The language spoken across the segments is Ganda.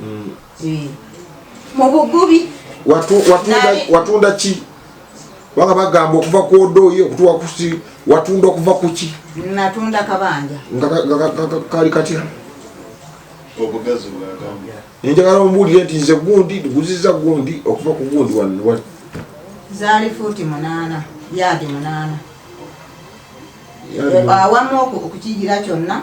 mm. eh. mu bugubi watunda ki banga bagamba okuva ku odooyi okutuwa kusi watunda okuva kuki natunda kabanja kali katya enjagala ombuulire nti nze gundi tuguziza gundi okuva ku gundi wanwa zaali fuuti munaana yaadi munaana awamu okukijira kyonna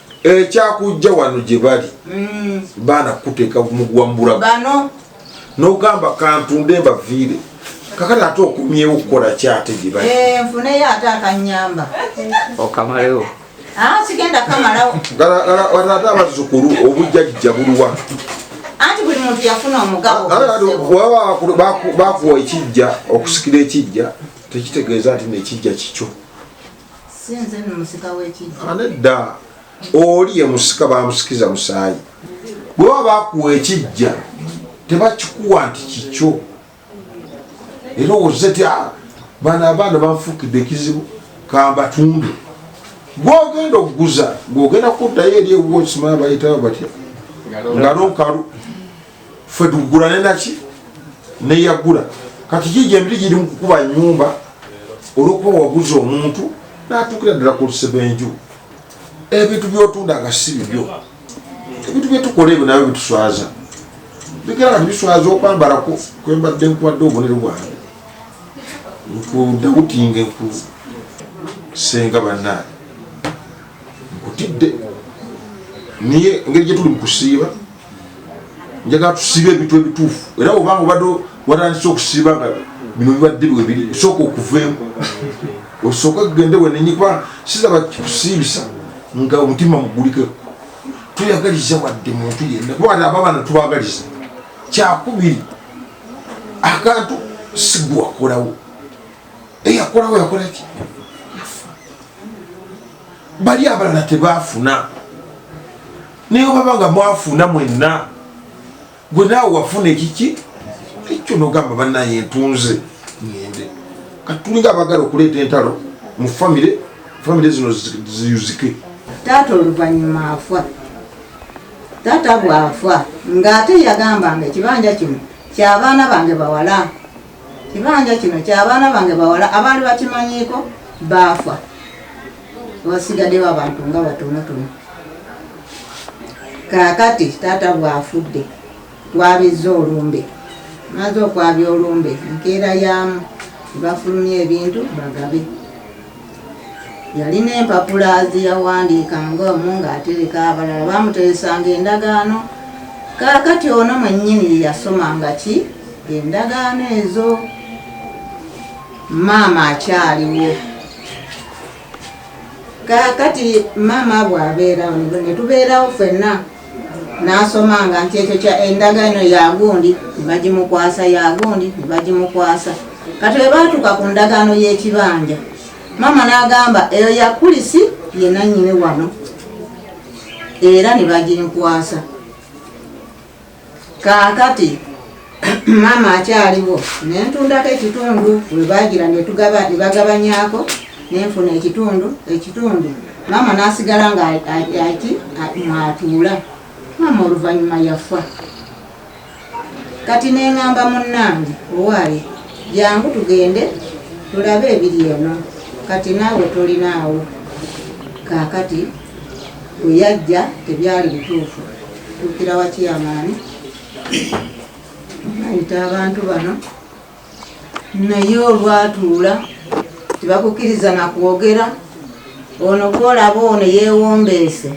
ekyakujja wano gye bali mm. baana kukuteeka muguwa mubulamu nogamba kantunde mbaviire kakati ate okumyewo okukola kyate gye bali eh, nfuneyo ate akanyamba okamalewo ah, sigenda kamalawo ate abazukulu obujjajja buluwa anti buli muntu yafuna omugabo bakuwa ekijja okusikira ekijja tekitegeeza nti nekijja kikyo Sinze no musika wekijja. Anedda oli ye musika bamusikiza musaayi. Bwe baba bakuwa ekijja tebakikuwa nti kikyo. Era owozze ti ah, bano abaana banfuukidde ekizibu kambatunde. Gwogenda okuguza gwogenda kuddayo eri ewuwo okimanyi bayitawo batya ngalo nkalu. ffe tugula nenaki neyagula kati kiji emiti giri mukukuba nyumba olwokuba waguza omuntu natukira ddala kusebenju ebintu byotunda nga si bibyo ebintu byetukola ebyo nabyo bituswaza bigera kati biswaza okwambala kwembadde nkuwadde obunere bwange nkudawutinge nku senga banange nkutidde niye engeri gyetuli mukusiiba njagala tusibe ebintu ebituufu era obanga obadde watandise okusiba nga bino bibadde bwebiri sooka okuveemu osooka kugende wenenyi kuba sizaba kikusiibisa nga omutima mugulikeko tuyagaliza wadde muntu yenna kuba wadde ababana tubagaliza kyakubiri akantu sigwe wakolawo eyakolawo yakolaki bali abalala tebafuna naye obaba nga mwafuna mwenna gwe naawe wafuna ekiki ekyo nogamba banaye ntunze ngende kati tulinga abagala okuleeta entalo mu famire famire zino ziyuzike taata oluvannyuma afa taata bwafa ng'ate yagambanga ekibanja kino kyabaana bange bawala Kibanja kino kya baana bange bawala abaali bakimanyiiko baafa, wasigaddewo abantu nga batonotono. Kaakati taata bw'afudde twabizza olumbe, maze okwabya olumbe nkeera yaamu bafulumya ebintu bagabe. Yalina empapula ze yawandiikangamu ng'atereka abalala, baamuteresanga endagaano. Kaakati ono mwennyini ye yasomanga ki? Endagaano ezo. Maama akyaliwo. Kaakati maama bw'abeerawo ne tubeerawo ffenna. n'asomanga nti ekyo kya endagaano ya gundi ne bagimukwasa ya gundi ne bagimukwasa kati bwe baatuuka ku ndagaano y'ekibanja maama n'agamba eyo ya kulisi ye nannyini wano era ne baginkwasa kaakati maama akyaliwo nentundako ekitundu webagira nebagabanyako nenfuna ekitundu ekitundu maama nasigala nga ati mwatuula maama oluvanyuma yafa kati nengamba munange owaali jangu tugende tulabe ebiri eno kati naawe tolinaawo kakati weyajja tebyali bituufu tuukira wakiyamaani ayita abantu bano naye olwatuula tebakukiriza nakwogera ono gwolaba ono yewombeese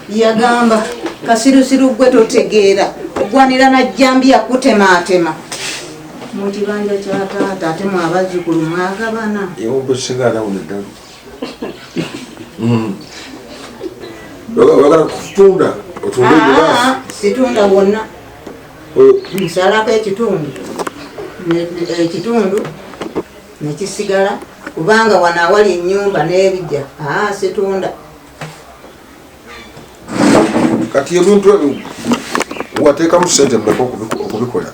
yagamba kasirusiru gwe totegeera ogwanira najjambiya kutematema mukibanja kyataata ate mwabazukulu mwagabana Mm. Bagala kutunda otunde ah, giraasi. Situnda wonna. Oh. Nsalako ekitundu ekitundu nekisigala kubanga wano awali enyumba n'ebijja ah, situnda. Kati ebintu ebyo wateekamu sente mmeka okubikola?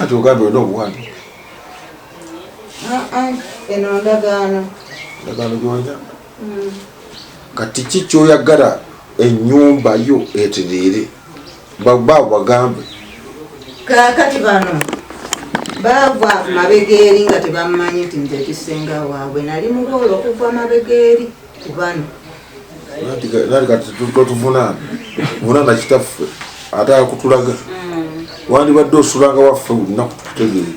ati ogambye olina obuwambi ah, ah, eno ndagaano ndagaano gyolina hmm. kati ki kyoyagala enyumba yo etereere babaabo bagambe kakati bano baava mabegeeri nga tebammanyi nti nze ekisenga waabwe nali muboolo okuva mabegeeri kubano nali kati totuvunana vunana kitaffe ate akutulaga mm. wandibadde osulanga waffe lunaku tukutegeere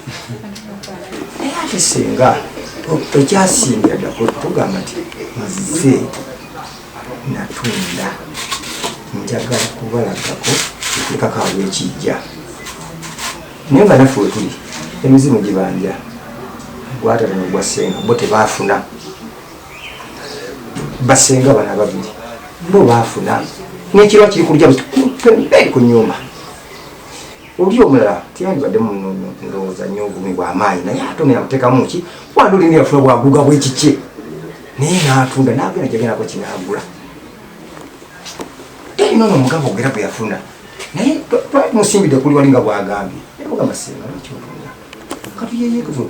naye ate singa ekyasinga dako tugamba nti nze natunda njagala kubalagako ekikakaawo ekijja naye nga naffe wetuli emizimu gibanja gwatata nogwasenga bo tebafuna basenga bana babiri bo baafuna n'ekirwa kiri kulya pemberi ku nyumba oli omulala tiyandibadde mundowooza nyo obumi bwamaanyi naye ate ono yamutekamu ki wandi olina yafuna bwaguga bwekikye naye natunda nagenda kyagendako kinagula talina ono omugabo ogera gwe yafuna naye twali musimbidde kuli wali nga bwagambye naye mugamba singa nakyotunda katuyeyekezo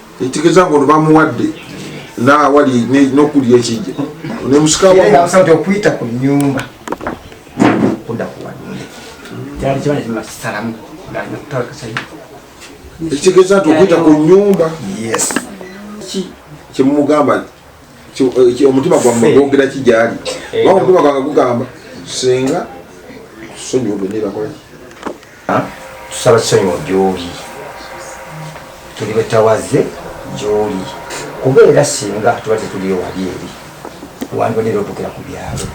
ekitegeeza nga ono bamuwadde naawali nokulya ekijja nemusikawamusajja okuyita ku nyumba kuda kuwadde kyali kibanja kimasalamu ekitegeeza nti okuyita ku nyumba yes kyemumugamba eh, omutima gwammwe gwogera ki gyali oba omutima gwange gugamba singa sonyiwa bwe nebakolaki tusaba sonyiwa gyoli tuli betawaze gyoli kuba era singa tuba tetuli ewali eri wandibadde era otuukira ku byalo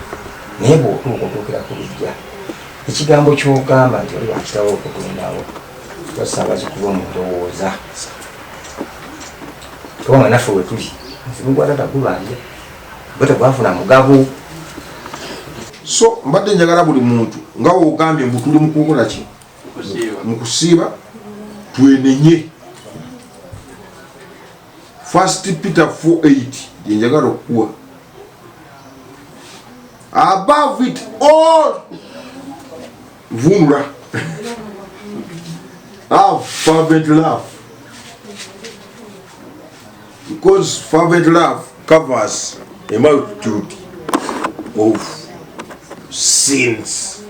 naye bwotuuka otuukira ku bijja ekigambo kyogamba nti oli wakitawo okugendawo basanga kikuba omundowooza kubanga naffe wetuli nsibukwatata kubanja Gwe tegwafuna mugabo. So mbadde njagala buli muntu nga wogambye mbu tuli mukukola ki mu kusiiba twenenye first peter 48 yenjagala okukuwa above it all vunula have fervent love Because fervent love covers a multitude of sins.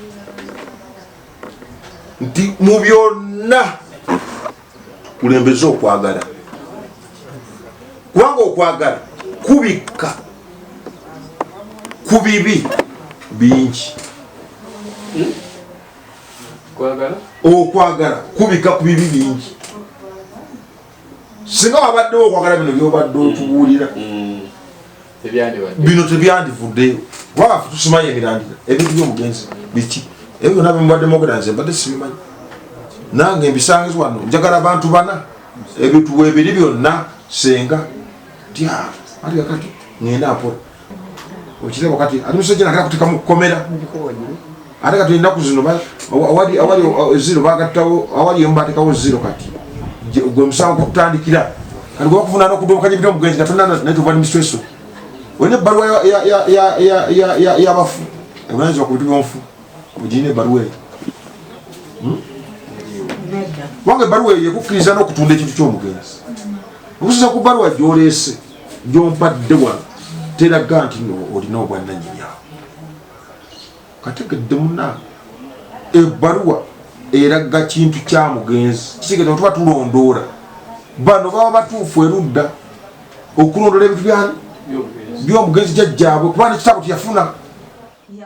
Nti mu byonna kulembeza okwagala kubanga okwagala kubikka ku bibi bingi okwagala kubikka ku bibi bingi singa wabaddewo okwagala bino byobadde otubuulira mm. bino tebyandivuddeyo kubanga fe tusimayo emirandira ebintu byomugenzi biki ebyo byona bemubadde mwogera nze mbadde sibimanyi nange mbisangiz wano njagala bantu bana ebituwa ebiri byonna senga tya ati kakati ngenda mpola okiraba kati ate musajja nagala kuteeka mu kkomera ate kati ennaku zino awali awali uh, ziro bagattawo awali emu batekawo ziro kati gwe musango gwakutandikira kati gwe bakufuna nokudobokanya ebita omugenzi nga tonna naye tova nimisweso olina ebbaluwa yabafu ebunanyizibwa ku bintu byonfu ogirina ebbaluwa eyo hmm? kubanga ebbaluwa eyo ekukkiriza n'okutunda ekintu ky'omugenzi okusinza ku bbaluwa gyoleese gyompadde wano teraga nti no olina obwannanyini awo kategedde muna ebbaluwa eraga kintu kya mugenzi kisigeza otuba tulondoola bano baba batuufu erudda okulondoola ebintu byani byomugenzi jajjaabwe kuba nekitabo teyafuna